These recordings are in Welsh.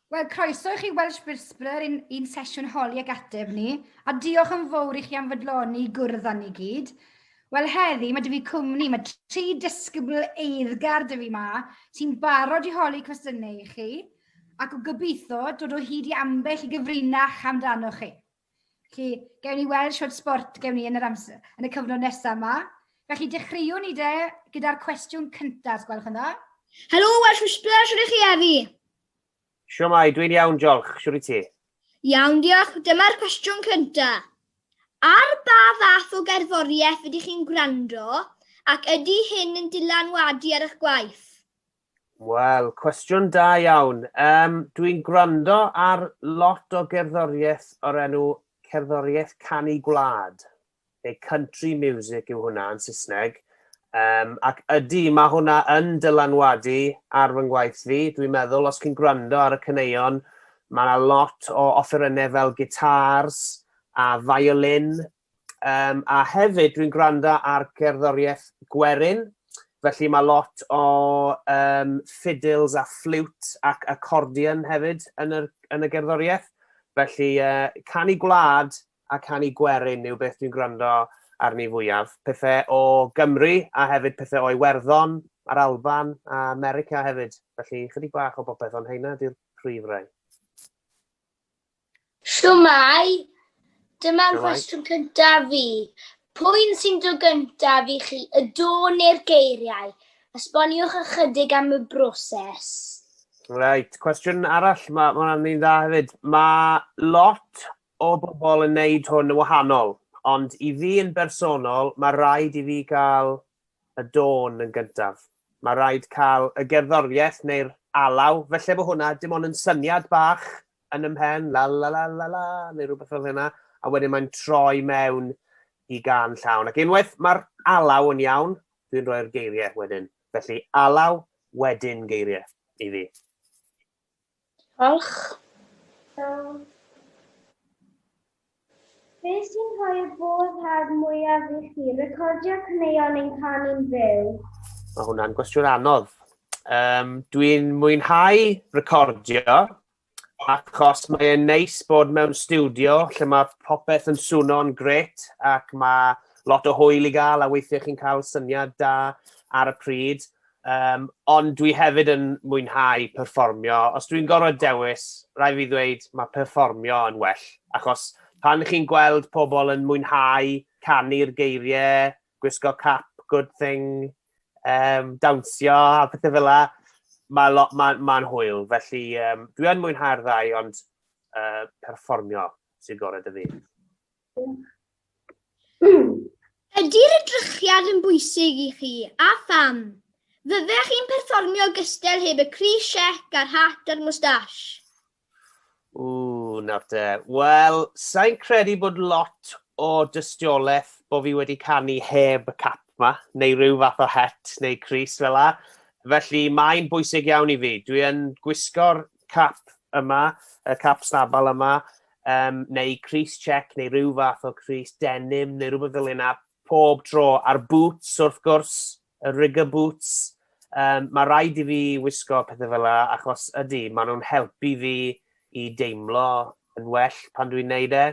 Wel, croeso i chi Welsh Whisperer i'n un sesiwn holi ag ateb ni, a diolch yn fawr i chi am fydloni gwrdd â ni gyd. Wel, heddi mae dy fi cwmni, mae tri disgybl eiddgar dy fi ma, sy'n barod i holi cwestiynau i chi, ac o gobeithio dod o hyd i ambell i gyfrinach amdano chi. Felly, gewn ni weld siwt sbort gewn ni yn yr amser, yn y cyfnod nesaf yma. Felly, dechreuwn ni de gyda'r cwestiwn cyntaf, os gwelwch yn dda. Helo, Welsh Whisperer, siwr i chi Efi? Siwr mai, dwi'n iawn, diolch. Siwr i ti? Iawn, diolch. Dyma'r cwestiwn cyntaf. Ar ba fath o gerddoriaeth ydych chi'n gwrando ac ydy hyn yn dylanwadu ar eich gwaith? Wel, cwestiwn da iawn. Um, Dwi'n gwrando ar lot o gerddoriaeth o'r enw cerddoriaeth canu gwlad, neu country music yw hwnna yn Saesneg. Um, ac ydy, mae hwnna yn dylanwadu ar fy ngwaith fi. Dwi'n meddwl, os chi'n gwrando ar y cyneuon, mae yna lot o offerynnau fel gitars a violin Um, a hefyd, dwi'n gwrando ar gerddoriaeth gwerin, felly mae lot o um, fiddles a ffliwt ac accordion hefyd yn, yr, yn y gerddoriaeth. Felly, uh, canu gwlad a canu gwerin yw beth dwi'n gwrando arni fwyaf. Pethau o Gymru a hefyd pethau o Iwerddon a'r Alban a America hefyd. Felly, chydig bach o bopeth, ond heina di'r prif rai. Shwmae! Dyma'r cwestiwn cyntaf fi. Pwy'n sy'n dod gyntaf i chi, y do neu'r geiriau? Esboniwch ychydig am y broses. Reit, cwestiwn arall, mae ma hwnna'n un dda hefyd. Mae lot o bobl yn neud hwn yn wahanol, ond i fi yn bersonol, mae rhaid i fi gael y dôn yn gyntaf. Mae rhaid cael y gerddoriaeth neu'r alaw, felly bod hwnna dim ond yn syniad bach yn y mhen, la la la la la, neu rhywbeth fel hynna, a wedyn mae'n troi mewn i gan llawn. Ac unwaith mae'r alaw yn iawn, dwi'n rhoi'r geiriau wedyn. Felly alaw wedyn geiriau i fi. Diolch. Iawn. Be sy'n rhoi'r boddhad mwyaf i chi, recordio caneuon neu'n canu'n fyw? Mae hwnna'n gwestiwn anodd. Um, Dwi'n mwynhau recordio, achos mae'n neis bod mewn studio lle mae popeth yn swno'n gret ac mae lot o hwyl i gael a weithiau chi'n cael syniad da ar y pryd. Um, ond dwi hefyd yn mwynhau perfformio. Os dwi'n gorfod dewis, rai fi ddweud mae perfformio yn well. Achos pan chi'n gweld pobl yn mwynhau canu'r geiriau, gwisgo cap, good thing, um, dawnsio a pethau fel la, mae'n ma, ma, ma hwyl. Felly um, dwi'n mwynhau'r ddau, ond uh, perfformio sy'n gorau dy fi. Ydy'r edrychiad yn bwysig i chi, a pham? Fyddech chi'n perfformio gystel heb y crys siec a'r hat a'r mwstash? Ww, nawr te. Wel, sa'n credu bod lot o dystiolaeth bod fi wedi canu heb y cap ma, neu rhyw fath o het neu crys fel la. Felly mae'n bwysig iawn i fi. Dwi yn gwisgo'r cap yma, y cap stabal yma, um, neu Cris Check, neu rhyw fath o Cris Denim, neu rhywbeth fel yna, pob tro, a'r boots wrth gwrs, y rigger boots, um, mae rhaid i fi wisgo pethau fel yna, achos ydy, maen nhw'n helpu fi i deimlo yn well pan dwi'n neud e.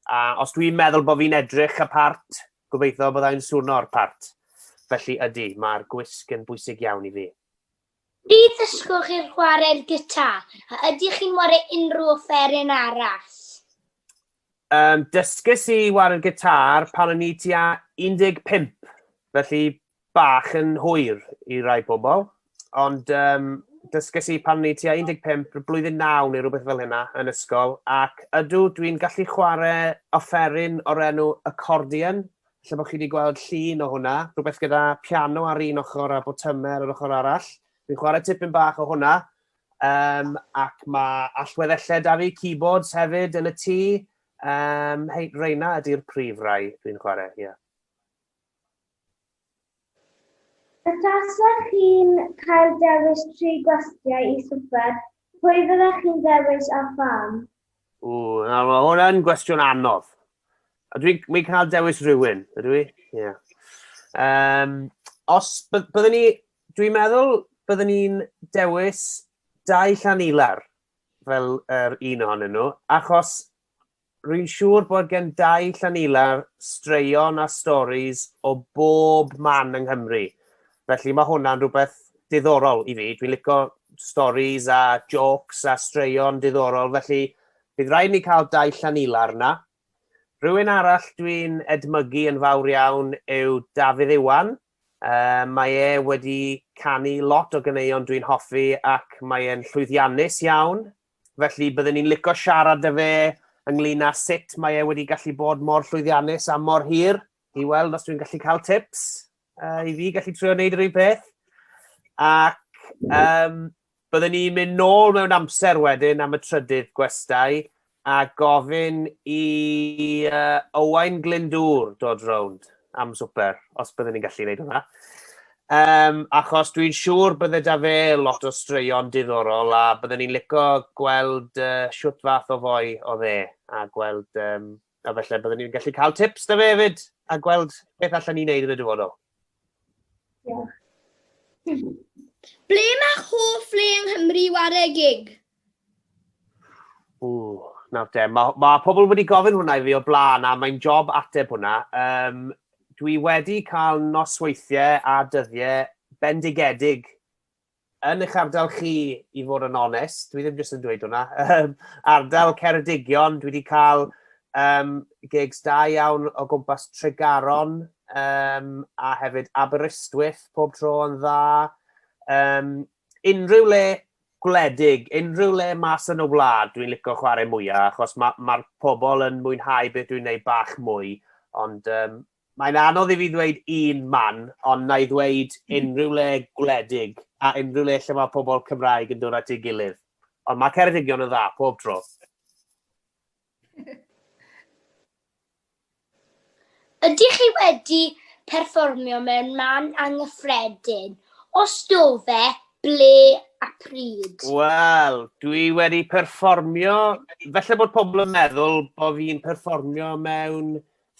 A os dwi'n meddwl bod fi'n edrych y part, gobeithio bod e'n swno'r part. Felly ydy, mae'r gwisg yn bwysig iawn i fi. Pryd ddysgoch chi'r chwarae'r gitar, a ydych chi'n ware unrhyw offeryn arall? Um, dysgus i ware'r gitar pan o'n i tua 15, felly bach yn hwyr i rai pobl. Ond um, dysgus i pan o'n i tua 15, blwyddyn 9 neu rhywbeth fel hynna yn ysgol, ac ydw dwi'n gallu chwarae offeryn o'r enw accordion, Ella bod chi wedi gweld llun o hwnna, rhywbeth gyda piano ar un ochr a botymau ar yr ochr arall. Fi'n chwarae tipyn bach o hwnna, um, ac mae allweddellau da fi, keyboards hefyd yn y tŷ. Um, hei, reina ydy'r prif rai dwi'n chwarae, ie. Yeah. Os tasech chi'n cael dewis tri gwastiau i swper, pwy fyddech chi'n ddewis a pham? Ww, nawr mae hwn yn gwestiwn anodd. A dwi'n mynd cael dewis rhywun, ydw i? Ie. Yeah. Um, os byddwn ni, dwi'n meddwl byddwn ni'n dewis dau llan ilar fel yr un ohonyn nhw, achos Rwy'n siŵr bod gan Dai Llanilar straeon a storis o bob man yng Nghymru, felly mae hwnna'n rhywbeth diddorol i fi. Dwi'n licio storis a jôcs a straeon diddorol, felly bydd rhaid i ni cael Dai Llanilar 'na. Rhywun arall dwi'n edmygu yn fawr iawn yw Dafydd Iwan. Yy, mae e wedi canu lot o ganeuon dwi'n hoffi ac mae e'n llwyddiannus iawn Felly bydden ni'n lico siarad â fe ynglyn â sut mae e wedi gallu bod mor llwyddiannus am mor hir, i weld os dwi'n gallu cael tips uh, i fi gallu trio wneud yr un peth. Ac um, bydden ni'n mynd nôl mewn amser wedyn am y trydydd gwestai a gofyn i uh, Owain Glyndŵr dod rownd am swper, os bydden ni'n gallu gwneud hwnna. Yym, achos dwi'n siŵr bydde 'da fe lot o straeon diddorol a bydden ni'n lico gweld uh, shwt fath o foi oedd e a gweld, um, a felly bydden ni'n gallu cael tips 'da fe hefyd a gweld beth allan ni'n neud yn y dyfodol. Diolch. Ble mae hoff le yng Nghymru ware gig? Ww, nawr te, mae ma pobl wedi gofyn hwnna i fi o blaen a mae'n job ateb hwnna. Um, dwi wedi cael nosweithiau a dyddiau bendigedig yn eich ardal chi i fod yn onest, dwi ddim jyst yn dweud hwnna, um, ardal Ceredigion, dwi wedi cael um, gigs da iawn o gwmpas Tregaron um, a hefyd Aberystwyth pob tro yn dda. Um, unrhyw le gwledig, unrhyw le mas yn y wlad, dwi'n licio chwarae mwyaf, achos mae'r ma, ma pobl yn mwynhau beth dwi'n neud bach mwy, ond um, mae'n anodd i fi ddweud un man, ond na i ddweud hmm. unrhyw le gwledig, a unrhyw le lle mae pobl Cymraeg yn dod at ei gilydd. Ond mae Ceredigion yn dda, pob tro. Ydych chi wedi perfformio mewn man anghyffredin? Os do fe, ble a pryd? Wel, dwi wedi perfformio... Felly bod pobl yn meddwl bod fi'n perfformio mewn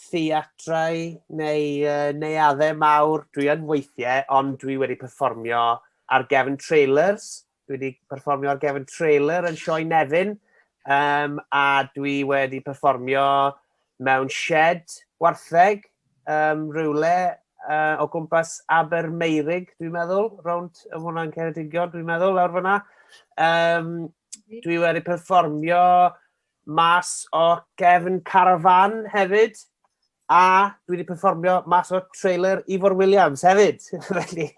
theatrau neu uh, neuaddau mawr. Dwi yn weithiau, ond dwi wedi perfformio ar gefn trailers Dwi wedi perfformio ar gefn trailer yn Sioe Nefyn, um, a dwi wedi perfformio mewn shed wartheg um, rhywle uh, o gwmpas Abermeirig, dwi'n meddwl, rownd y hwnna'n Ceredigion, dwi'n meddwl, lawr fyna. Um, dwi wedi perfformio mas o gefn carafan hefyd, A dwi wedi perfformio mas o'r trailer Ifor Williams hefyd. Felly,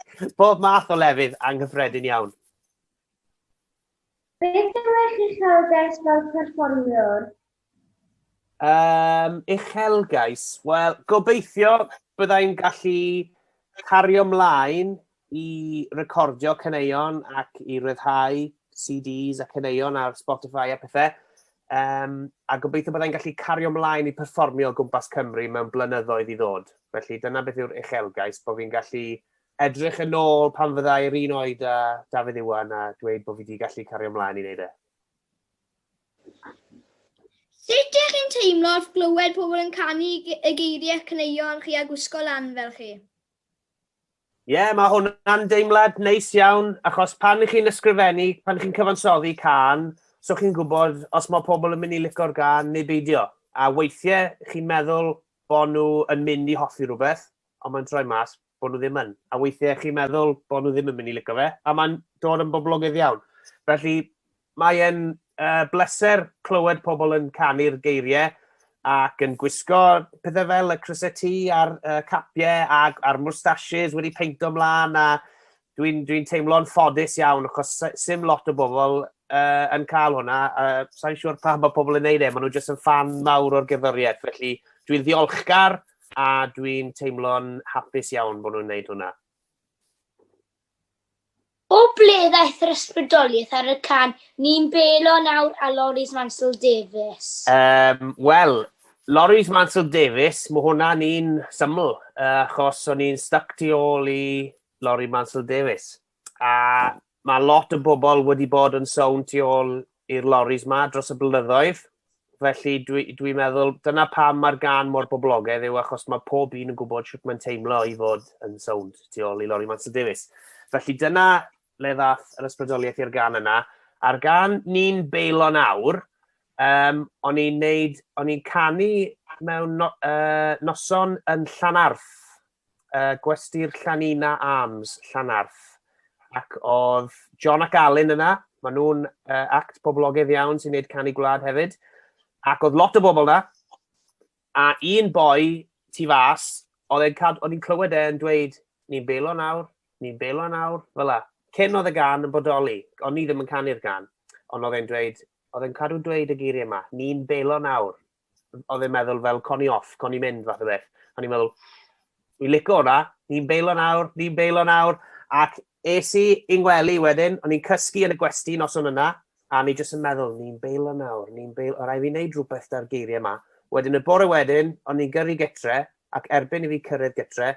bob math o lefydd anghyffredin iawn. Beth yw'ch uchelgais fel perfformiwr? Um, uchelgais? Wel, gobeithio byddai'n gallu cario mlaen i recordio caneuon ac i ryddhau CDs a caneuon ar Spotify a pethau. Um, a gobeithio byddai'n gallu cario mlaen i perfformio o gwmpas Cymru mewn blynyddoedd i ddod. Felly dyna beth yw'r uchelgais, bod fi'n gallu edrych yn ôl pan fyddai'r un oed a Dafydd Iwan a dweud bod fi wedi gallu cario mlaen i wneud e. Sut ydych chi'n teimlo wrth glywed pobl yn canu y geiriau caneuon chi a gwisgo lan fel chi? Ie, yeah, mae hwnna'n deimlad neis iawn, achos pan chi'n ysgrifennu, pan chi'n cyfansoddi can, so chi'n gwybod os mae pobl yn mynd i licor gan neu beidio. A weithiau chi'n meddwl bod nhw yn mynd i hoffi rhywbeth, ond mae'n troi mas bod nhw ddim yn. A weithiau chi'n meddwl bod nhw ddim yn mynd i licio fe, a mae'n dod yn boblogaidd iawn. Felly, Mae e'n bleser clywed pobl yn canu'r geiriau ac yn gwisgo pethau fel y crysau tŷ a'r capiau a'r moustaches wedi peinto mlaen a dwi'n teimlo'n ffodus iawn achos 'sdim lot o bobl yn cael hwnna a sai'n siŵr pam mae pobl yn neud e, maen nhw jyst yn ffan mawr o'r gerddoriaeth felly dwi'n ddiolchgar a dwi'n teimlo'n hapus iawn bod nhw'n neud hwnna. O ble ddaeth yr ysbrydoliaeth ar y can Ni'n Belo Nawr a Loris Mansel Davies? Um, Wel, Loris Mansel Davies, mae hwnna'n un syml, uh, achos o'n i'n stuck tu ôl i Loris Mansel Davies. A mae lot o bobl wedi bod yn sôn tu ôl i'r loris ma dros y blynyddoedd, Felly dwi'n dwi meddwl, dyna pam mae'r gan mor boblogaidd yw achos mae pob un yn gwybod sut mae'n teimlo i fod yn sownd tu ôl i Lori Manson Davies. Felly dyna le ddath yr ysbrydoliaeth i'r gan yna. A'r gan ni'n beilo nawr, um, o'n i'n neud, o'n i'n canu mewn no, uh, noson yn Llanarth, uh, gwesty'r Llanina Arms, Llanarth. Ac oedd John ac Alun yna, maen nhw'n uh, act poblogaidd iawn sy'n gwneud canu gwlad hefyd. Ac oedd lot o bobl yna, a un boi tu fas, oedd i'n clywed e'n dweud, ni'n belo nawr, ni'n belo nawr, fel la. Cyn oedd y gan yn bodoli, ond ni ddim yn canu'r gan, ond oedd e'n dweud, oedd e'n cadw dweud y geiriau yma, ni'n belo nawr, oedd e'n meddwl fel, con i off, con i mynd, fath o beth. O'n i'n meddwl, fi'n licio hwnna, ni'n beilo nawr, ni'n beilo nawr. Ac es i i'n wely wedyn, o'n i'n cysgu yn y gwesti nos o'n yna, a ni jyst yn meddwl, ni'n beilo nawr, ni'n beilo, o rai fi wneud rhywbeth da'r geiriau yma. Wedyn y bore wedyn, o'n i'n gyrru getre, ac erbyn i fi cyrraedd getre,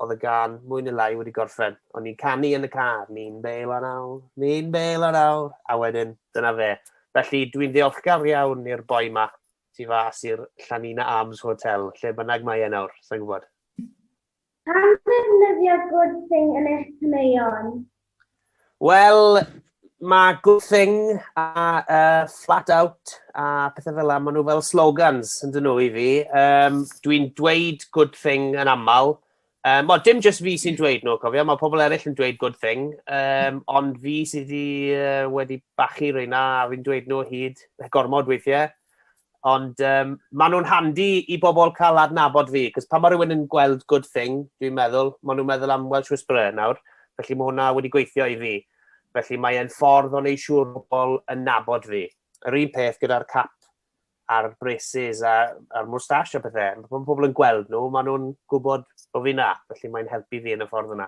oedd y gan mwy neu lai wedi gorffen. O'n ni'n canu yn y car, ni'n beil an awr, ni'n beil an awr, a wedyn dyna fe. Felly dwi'n ddiolchgar iawn i'r boi ma tu fas i'r Llanina Arms Hotel, lle bynnag mae e nawr, sa'n gwybod. Pam ddefnyddio good thing yn eich caneuon? Wel, mae good thing a uh, flat out a pethau fel yna, maen nhw fel slogans yn dyn nhw i fi. Um, Dwi'n dweud good thing yn aml. Um, o, dim just fi sy'n dweud nhw, cofio, mae pobl eraill yn dweud good thing, um, ond fi sydd wedi, uh, wedi bachu reina a fi'n dweud nhw hyd gormod weithiau. Ond um, maen nhw'n handi i bobl cael adnabod fi, cos pan mae rhywun yn gweld good thing, dwi'n meddwl, maen nhw'n meddwl am Welsh Whisperer nawr, felly mae hwnna wedi gweithio i fi. Felly mae'n ffordd o'n ei siŵr bobl yn nabod fi. Yr un peth gyda'r cap a'r braces a'r, ar moustache a pethau. Mae pobl yn gweld nhw, maen nhw'n gwybod bod fi na, felly mae'n helpu fi yn y ffordd yna.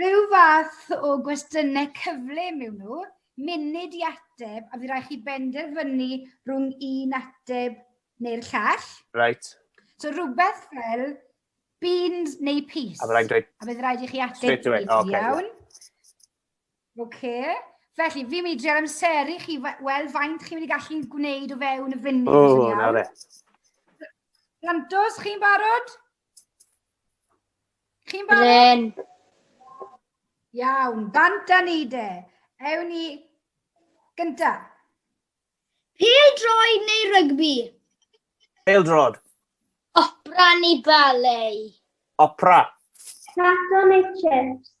Rhyw fath o gwestiynau cyflym yw nhw, munud i ateb a fydd rhaid chi benderfynu rhwng un ateb neu'r llall. Reit. So rhywbeth fel beans neu peas. A bydd rhaid dweud... A bydd rhaid i chi ateb straight away. Oh, okay. Iawn. Okay. Felly, fi'n mynd i dreul amseru chi wel faint chi'n mynd i gallu gwneud o fewn y funud. O, oh, na fe. Lantos, chi'n barod? Chi'n barod? Ren. Iawn, bant a ni de. Ewn ni gynta. Pêl droi neu rygbi? Pêl drod. Opera neu ballet? Opera. Tato neu chips?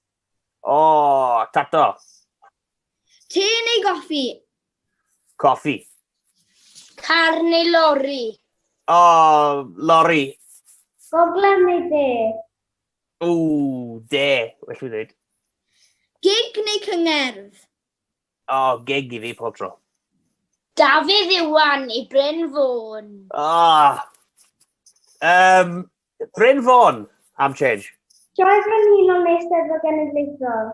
O, tato. Te neu goffi? Coffi. Car neu lori? O, lori. Gogledd neu de? O, de, well fi ddweud. Gig neu cyngerdd? O, gig i fi pob tro. Dafydd Iwan i Bryn Fôn. O! Um, Bryn Fôn, am change. Sioe Frenhinol neu Steddfod Genedlaethol?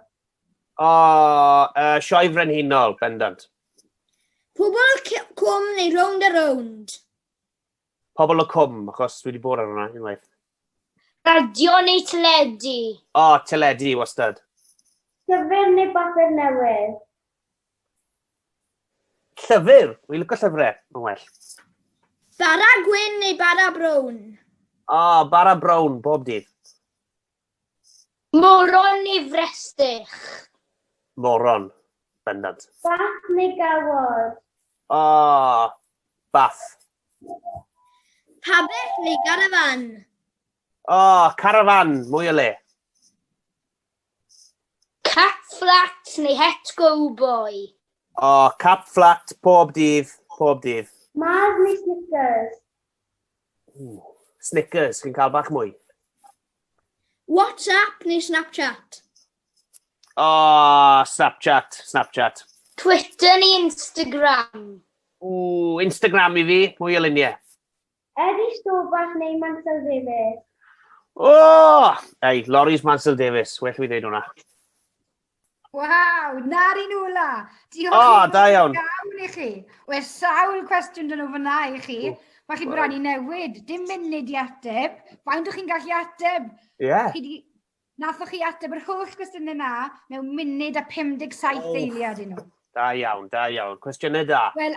O, uh, Sioe Frenhinol, bendant. Pobl Cwm neu Round a Round? Pobl y Cwm, achos dwi wedi bod ar hwnna unwaith. Radio neu teledu? O, teledu, wastad. Llyfr neu bapur newydd? Llyfr! Wi'n lyco llyfrau, mae'n well. Bara gwyn neu bara brown? O, oh, bara brown, bob dydd. Moron neu frestych? Moron, bendant. Bath neu gawod? O, oh, bath. Pabell neu garafan? O, oh, carafan, mwy o le. Cap fflat neu het gowboi? O, oh, cap fflat pob dydd, pob dydd. Mars neu Snickers? Ooh. Snickers, fi'n cael bach mwy. WhatsApp neu Snapchat? O, oh, Snapchat, Snapchat. Twitter neu Instagram? Ooh, Instagram i fi, mwy o luniau. Eddie Stobach neu Mansel Davies? O! Ei, Loris Mansel Davies, well fi ddeud hwnna. Waw, na'r un ola. Diolch oh, da iawn. iawn i chi. Oe sawl cwestiwn dyn nhw fyna i chi. Mae chi'n bron i newid. Dim munud i ateb. Faint o'ch chi'n gallu ateb? Ie. Yeah. Chi di... Nathoch chi ateb yr holl gwestiynau yna mewn munud a 57 oh. eiliad i nhw. Da iawn, da iawn. Cwestiynau da. Wel,